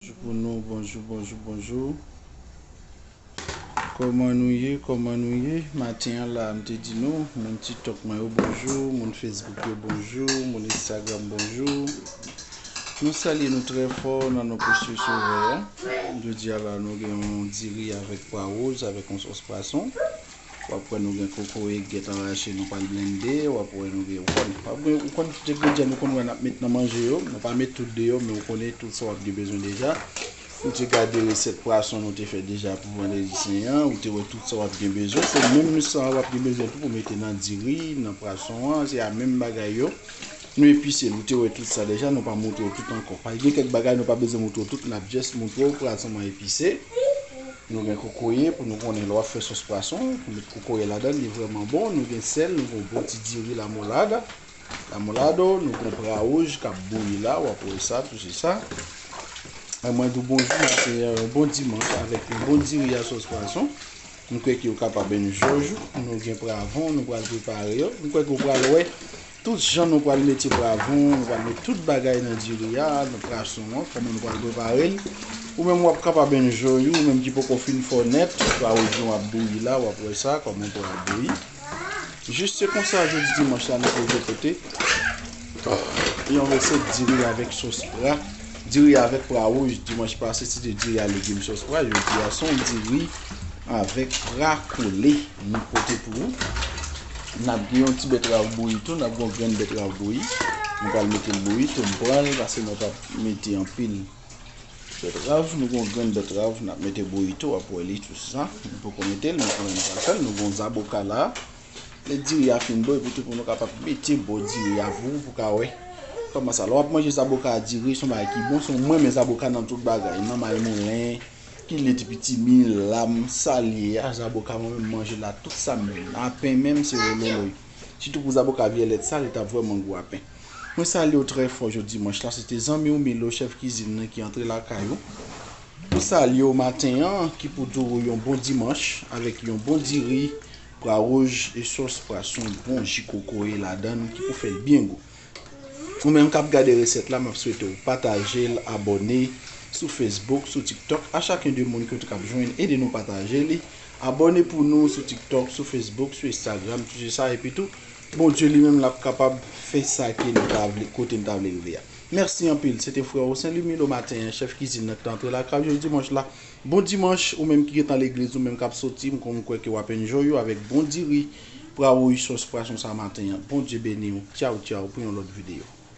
Bonjou pou nou bonjou bonjou bonjou Koman nou ye koman nou ye maten an la m te di nou moun tiktok mwen yo bonjou moun fesbouk yo bonjou moun instagram bonjou nou salye nou trè fò nan non prèsyè sovè a jodi a la nou gen yon diri avèk pwa woz avèk yon sòs pwason Wap wè nou gen kokoye ki gentan rache nou pral blende, wap wè nou gen, ou konn, wap gen, ou konn tout engredyan nou konn wè nap met nan manje yo, nou pa met tout deyò men ou konnen tout sa wap gen bezwen deja. Ou te gade resèt pwason nou te fè deja pou vandredi sen an, ou te wè tout sa wap gen bezwen, se menm sa a wap gen bezwen tou pou mete nan diri, nan pwason an, se a menm bagay yo. Nou epise l, ou te wè tout sa deja, nou pa montre w tout ankò. Paske gen kèk bagay nou pa bezwen montre w tout, nap just montre w pwason an epise. Nou gen kokoye pou nou konnen lè w ap fè sòs pwason pou met kokoye ladan li vrèman bon. Nou gen sèl, nou gen yon bon ti diri lamolada, lamolado, nou gen pra wouj k ap bouyi la, w ap wè sa tou se sa. E mwen di w bonjou maten an, yon bon dimanch avèk yon bon diri a sòs pwason. Mwen kwè ke ou kapab menm jòj ou. Nou gen pra van nou pral prepare yo. Mwen kwè ke ou pral wè. Tout jan nou pral mete pwavon, nou pral met tout bagay nan diri a, nan prason an, kòman nou pral prepare l. Ou menm wap kapab enjoy ou menm ki poko fin fò nèt, pwaojon ap bouyi la, wap wè sa, kòman pou al bouyi. Jis se konsa jodi dimanch la nou pwoje pote yon resèt diri avèk sos pra. Diri avèk pra wouj dimanch pase se te diri a legim sos pwa jodi a son diri avèk pra kole nou pote pou ou n ap gen yon ti bètrav bouyi tou n ap gen yon grenn bètrav bouyi nou pral mete l bouyi tou m pran l pase mwen pa mete anpil bètrav nou gen yon grenn bètrav n ap mete bouyi tou w ap wè li tou sa m poko mete l men kanmèm m pral fè l nou gen yon zaboka la. Lè diri a fin bon epi tou pou nou kapab mete bò diri a pou ou ka wè kòman sa. Lè w ap manje zaboka a diri son bagay ki bon son mwen renmen zaboka nan tout bagay nan mayimoulen, kiliti pitimi, lam, sa l ye a zaboka mwen menm manje l a tout sa m menm. A pen menm se wololoy. Sitou pou zaboka vyèlèt sa li t ap vrèman gou a pen. Mwen salye w trè fò jodi dimanch la se te zanmi w Milo chèf kizin nan ki antre lakay ou pou salye w maten an ki pou di w yon bon dimanch avèk yon bon diri Pra rouj e sòs pra s yon bon ji kokoye ladann ki pou fè l byen gou. Ou menm kap gade resèt la map swete w pataje l abòne sou Facebook sou tiktok a chacun de moun ki w t kap jwenn ede nou pataje li abòne pou nou sou tiktok sou Facebook sou Instagram tout se sa epi tou Bondye li menm lap kapab fè sa ke nou ta vle kote nou ta vle rive a. Mèsi anpil se te frè w Saint Lumi lo maten an chèf kizin nan ki t antre lakay ou jodi dimanch la. Bon dimanche ou menm ki gentan legliz ou menm kap soti m konn kwè ke wap enjoy ou avèk bon diri prawouyy sos pwason sa maten an Bondye beniw tyaw tyaw pou yon lòt video.